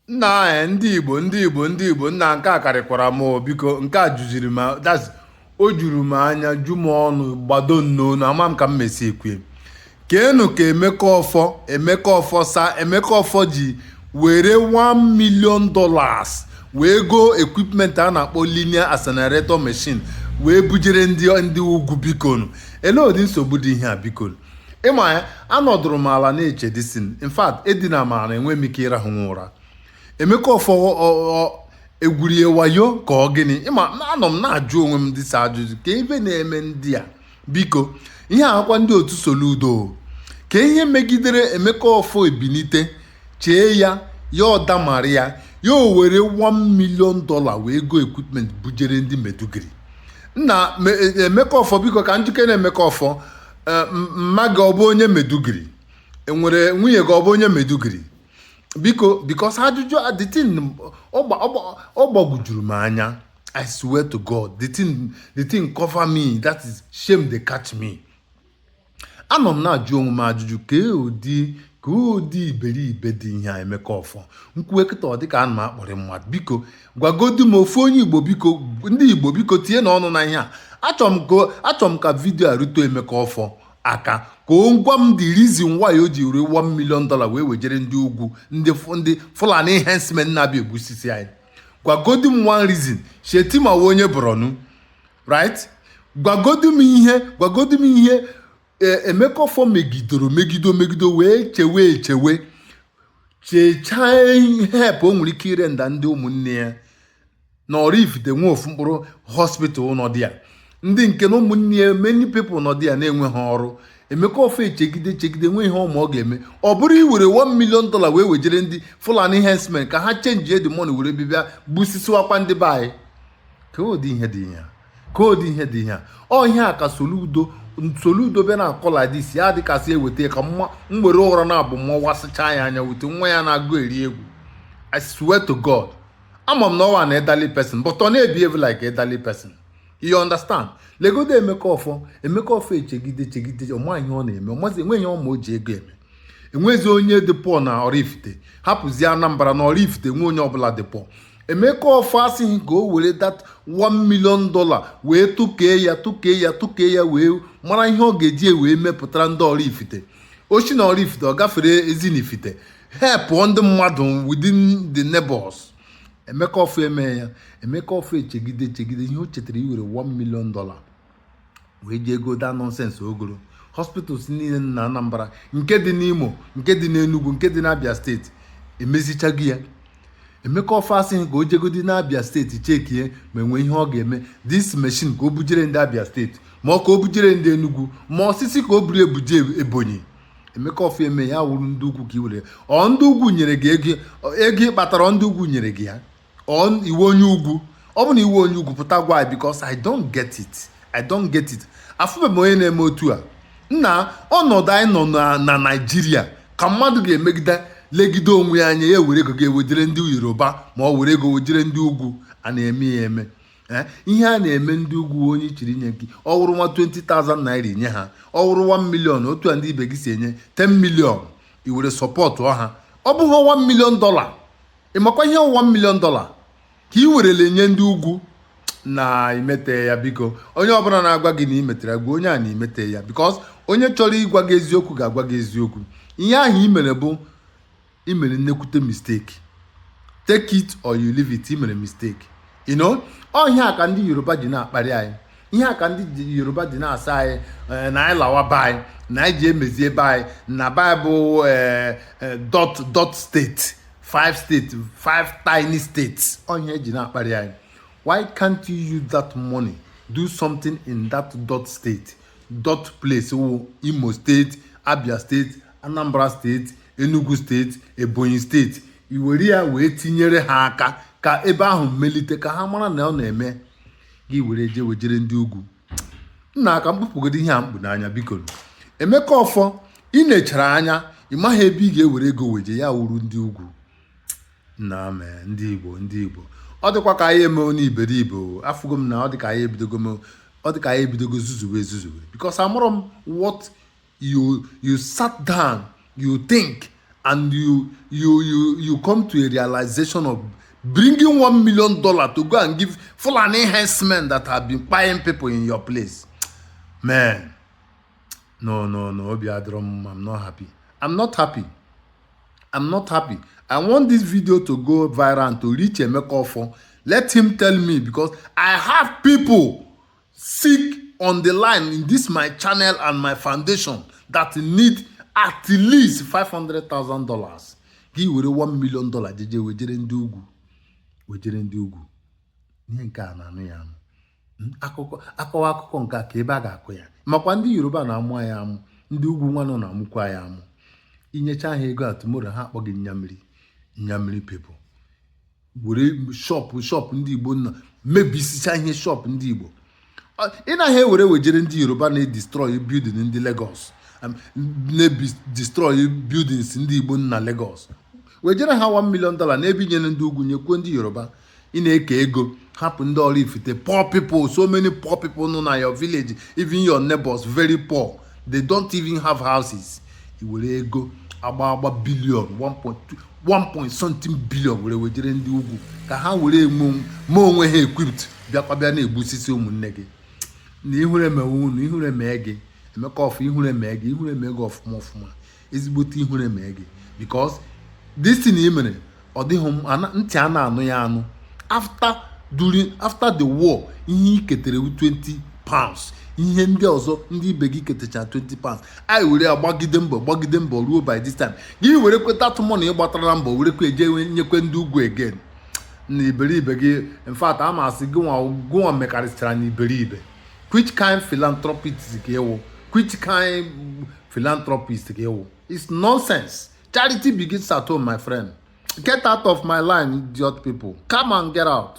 nna anyị eh, ndị igbo ndị igbo ndị igbo nna nke a karịkwara m oh, biko nke a juziri m that's o juru m anya ju m ọnụ gbado nnọọ na ama m ka m mesi ekwe kee nụ ka emeka ọfọ emeka ọfọ sir emeka ọfọ ji were 1 million dollars wee goo equipment a na-akpọ linear accelerator machine wee bujere ndị ndị ugwu bikonu elee ụdị nsogbu dị ihe a bikonu ịma ya anọdụrụ m ala na-eche this thing in fact edina m ala enwe m ike ịrahụ nwa ụra emeka ọfọ egwurie wayo ka ọ gịnị ịma anọ m na-ajụ onwe m this ajụjụ kee ihe na-eme ndị a biko ihe a kwa ndị otu soludo kee ihe megidere emeka ọfọ ebinite chee ya ya ọ damara ya ya o were 1 million dollar wee go equipment bujere ndị maiduguri nna e, emeka ọfọ biko ka njike na emeka ọfọ Eh, mma gị ọ bụ onye maiduguri enwere nwunye gị ọ bụ onye maiduguri biko because ajụjụ a, the thing ọ gbagwujuru m anya i swear to god the thing the thing cover me that is shame dey catch me anọ m na-ajụ onwe m ajụjụ kee ụdị kee ụdị iberibe dị ihe a emeka ọfọ m kwuwe kịta ọ dịka ana m akparị mmadụ biko gwagodu m ofu onye igbo biko ndị igbo biko tinyenụ ọnụ na ihe a achọrọ m ka video a rute emeka ọfọ aka ka ọ gwa m the reason why o ji were 1 million dollar wee wejere ndị ugwu ndị ndị fulani herdsmen na-abịa egbusisi anyị gwagodu m one reason shettima onye borno right gwagodu m ihe gwagodu m ihe E- emeka ọfọ megidoro megido megido wee chewe echewe chechaa help o nwere ike ịrender ndị ụmụnne ya na oraifite enwe ofu mkpụrụ hospital nọ there ndị nke na ụmụnne ya many people nọ there na-enweghị ọrụ emeka ọfọ echegide chegide enwe ihe ọ ma ọ ga-eme ọ bụrụ iwere 1 million dollar wee wejere ndị fulani herdsmen ka ha change the money were bịbịa gbusisiwakwa ndị be anyị kee ụdị ihe dị ihe a kee ụdị ihe dị ihe a ọ ihe a ka Soludo Soludo bịa na kọladis ya dịka a sị eweta ka m were ụra naabọ mawasịchaa ya anya wete nwa ya na-agụ eri egwu I swear to God ama m na ọ wụ an elderly person but ọ na-ebehave like elderly person you understand legodo emeka ọfọ emeka ọfọ echegide chegide ọ ma ihe ọ na-eme ọ mazi enwe ihe ọma o ji ego eme enwezi onye dị poor na oraifite hapụzie anambra na oraifite enwe onye ọbụla dị poor Emeka ọfọ asịghị ka o were that 1 million dollar wee tụkee ya tụkee ya tụkee ya wee mara ihe ọ ga-eji e wee mepụtara ndị oraifite o si na oraifite ọ gafere ezinifite help ndị mmadụ within the neighbors Emeka ọfọ eme ya Emeka ọfọ echegide echegide ihe o chetara iwere 1 million dollar wee jee go daa nonsense ogoro hospitals niile na Anambra nke dị n'Imo nke dị n'Enugu nke dị n'Abia steeti emezichago ya Emeka Offor asị ka o jegodi n'abia steeti chekie ma enwe ihe ọ ga-eme this machine ka o bujere ndị abia steeti ma ọ ka o bujere ndị enugu ma ọ sị ka o buru ebuje ebonyi Emeka Offor eme ya wụrụ ndị ugwu ka i were ọ ndị ugwu nyere gị ego ego ị kpatara ndị ugwu nyere gị ya ọ ị wụ onye ugwu ọ bụ na ị wụ onye ugwu pụta gwa anyị because I don't get it I don't get it afụbe m onye na-eme otu a nna ọnọdụ anyị nọ na- na Naịjirịa ka mmadụ ga-emegide legide onwe ya anya ya were ego ga-ewejere ndị Yoruba ma ọ were ego wejere ndị ugwu a na-eme ya eme Eh, ihe a na-eme ndị ugwu onye chiri nye gị ọ wụrụ nwa 20,000 naira i nye ha ọ wụrụ 1 million otu a ndị ibe gị si enye 10 million i were sọpọtụọ ha ọ bụghị 1 million dollar ị makwa ihe one million dollar ka ị werele nye ndị ugwu na i metaghị ya biko onye ọbụla na-agwa gị na i metara gwa onye a na i metaghị ya because onye chọrọ ịgwa gị eziokwu ga-agwa gị eziokwu ihe ahụ i mere bụ i mere nnekwute mistake take it or you leave it i mere mistake you know ọ ihe a ka ndị yoruba ji na-akparị anyị ihe a ka ndị yoruba ji na-asị anyị eh, na anyị lawa be anyị na anyị ji emezie be anyị na be anyị bụ eh, eh, dot dot state five state five tiny states ọ ihe e ji na-akparị anyị why can't you use that money do something in that dot state dot place wụ imo steeti abia steeti anambra steeti enugu steeti ebonyi steeti i were ya wee tinyere ha aka ka ebe ahụ melite ka ha mara na ọ na-eme gị were je wejere ndị ugwu nna ka m kpupụgodu ihe a m kpu n'anya biko Emeka Offor i nechara anya ị maghị ebe ị ga-ewere ego weje ya wụrụ ndị ugwu nna mee ndị igbo ndị igbo ọ dịkwa ka anyị emewo n'iberibe afụgo m na ọ dị ka anyị ebidogo ọ dị ka anyị ebidogo zuzuwe ezuzuwe because amụrụ m what you you sat down you think and you you you you come to a realization of bringing one million dollar to go and give fulani herdsmen that have been buying people in your place man no no no obi adịrọ i'm not happy i'm not happy i'm not happy i want this video to go viral and to reach emeka ofo let him tell me because i have people sick on the line in this my channel and my foundation that need at least five hundred thousand dollars gị were one million dollar jeje wejere ndị ugwu wejere ndị ugwu ihe nke a na-anụ ya anụ hmm, akụkọ akọwa akụkọ nke a ka ebe a ga-akọ ya makwa ndị yoruba na-amụ ya amụ ndị ugwu nwanụ na-amụkwa ya amụ i nyecha ha ego a tomorrow ha akpọ gị nyamiri nyamiri people were shop shop ndị igbo nọ mebisicha ihe shop ndị igbo ị naghị ewere wejere ndị yoruba na-destroy building ndị Lagos um, na-destroy buildings ndị igbo na Lagos wejere ha 1 million dollar n'ebe i nyere ndị ugwu nyekwuo ndị yoruba ị na-eke ego hapụ ndị Oraifite poor people so many poor people nọ na your village even your neighbors very poor they don't even have houses i were ego agba agba billion 1.2 1 point something billion were wejere ndị ugwu ka ha were mee onwe ha equipped bịakwa bịa na-egbusisi ụmụnne gị na ihure emewe unu ihure mee gị emeka offor ihure mee gị ihure mee gị ọfụma ọfụma ezigbote ihure mee gị because this thing i mere ọ dịghị ntị a na-anụ ya anụ after during after the war ihe i ketere wụ 20 pounds ihe ndị ọzọ ndị ibe gị ketecha 20 pounds anyị were ya gbagide mbọ gbagide mbọ ruo by this time gị were kweta atụmụ na ị gbatara na mbọ were kwe jee nyekwe ndị ugwu again na iberibe gị in fact a masị gị nwa gụnwa mekarịsịchara na iberibe which kind philanthropist ka ị wụ which kind philanthropist ka ị wụ it's nonsense charity begins at home my friend get out of my line idiot people come and get out